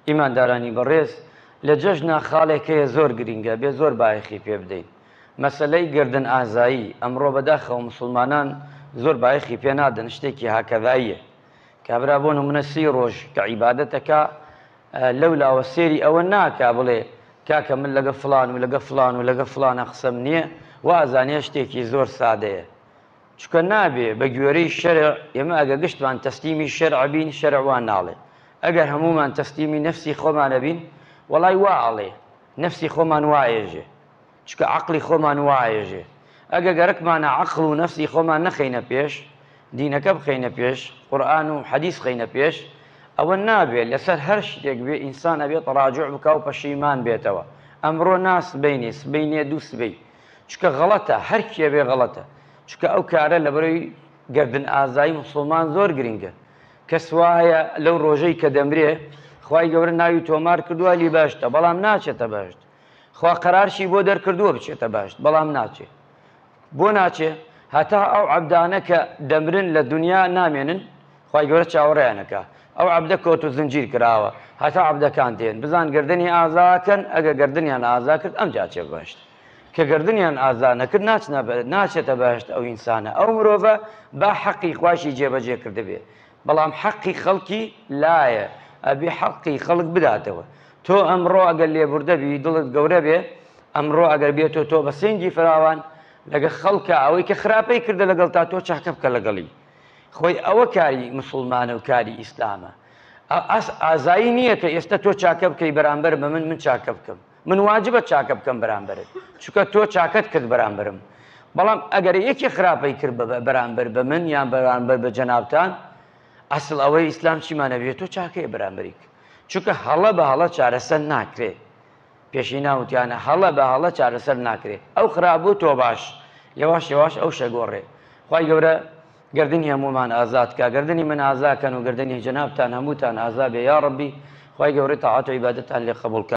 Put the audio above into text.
ئیماندارانی بەڕێز لە جەژنە خاڵێک هەیە زۆر گرینگە ئەبێ زۆر بایەخی پێ بدەین مەسەلەی گەردن ئازایی ئەمڕۆ بەداخەوە موسڵمانان زۆر بایەخی پێ نادەن شتێکی هاکەڤاییە کابرا بۆ نمونە سی ڕۆژ کە عیبادەت ئەکا لەو لاوە سێری ئەوە ناکا بڵێ کاکە من لەگە فڵان و لەگە فڵان و لەگە فڵانە قسەم نییە وا ئەزانێ شتێکی زۆر سادەیە چونکە نابێ بە گوێرەی شەرع ئێمە ئەگەر گشتمان تەسلیمی شەرع بین شەرع وا ناڵێ ئەگەر هەموومان تەسلیمی نەفسی خۆمانە بین وەڵای وا ئەڵێ نەفسی خۆمان وا ئێژێ چونکە عەقڵی خۆمان وا ئێژێ ئەگە گەرەکمانە عەقڵ و نەفسی خۆمان نەخەینە پێش دینەکە بخەینە پێش قورئان و حەدیث خەینە پێش ئەوە نابێت لەسەر هەر شتێک بێ ئینسان ئەبێت ڕاجع بکا و پەشیمان بێتەوە ئەمڕۆ نا سبەینێ سبەینێ دوو سبەی چونکە غەڵەتە هەر کێ بێ غەڵەتە چونکە ئەو کارە لەبەرەوەی گەردن ئازایی موسڵمان زۆر گرینگە کەس وایە لەو ڕۆژەی کە دەمرێ خوای گەورە ناوی تۆمار کردووە لی باشتە بەڵام ناچێتە باشت خوا قەرارشی بۆ دەرکردووە بچێتە باشت بەڵام ناچێ بۆ ناچێ هەتا ئەو عەبدانە کە دەمرن لە دنیا نامێنن خوای گەورە چاوەڕێیان ئەکا. ئەو عەبدە کۆت و زنجیر کراوە هەتا عەبدەکان دێن بزان گەردنی ئازا ئەکەن ئەگەر گەردنیان ئازا کرد ئەمجا ئەچێ بەهەشت کە گەردنیان ئازا نەکرد ناچنە ناچێتە بەهەشت ئەو ئینسانە ئەو مرۆڤە با حەقی خواشی جێبەجێ کردبێ بەڵام حەقی خەڵکی لایە ئەبێ حەقی خەڵک بداتەوە تۆ ئەمڕۆ ئەگەر لێبوردە بی دڵت گەورە بێ ئەمڕۆ ئەگەر بێتۆ تۆ بە سنگی فراوان لەگە خەڵکە ئەوەی کە خراپەی کردە لەگەڵ تا تۆ چاکە بکە لەگەڵی خۆی ئەوە کاری مسوڵمانە و کاری ئیسلامە ئاس ئازایی نییە کە ئێستا تۆ چاکە بکەی بەرامبەر بە من من چاکە بکەم من واجبە چاکە بکەم بەرامبەرت چکە تۆ چاکەت کرد بەرامبرم بەڵام ئەگەر یەکی خراپەی کرد بە بەرامبەر بە من یان بەرامبەر بە جەنابان ئەسڵ ئەوەی ئیسلام چیمانەبێت تۆ چاکەیە بەرامبریک چونکە هەڵە بە هەڵە چارەسەر ناکرێت پێشینا وتیانە هەڵە بە هەڵە چارەسەر ناکرێ ئەو خرابوو تۆ باش یەواش یەواش ئەو شە گۆڕێ خوای گەورە گەردنی هەموومان ئازاد کا گەردنی من ئازا کەن و گەردنی جەنابتان هەمووتان ئازا بێ یاڕەبی خوای گەورە تاعەت و عیبادەتان لێ قەبوڵ کا.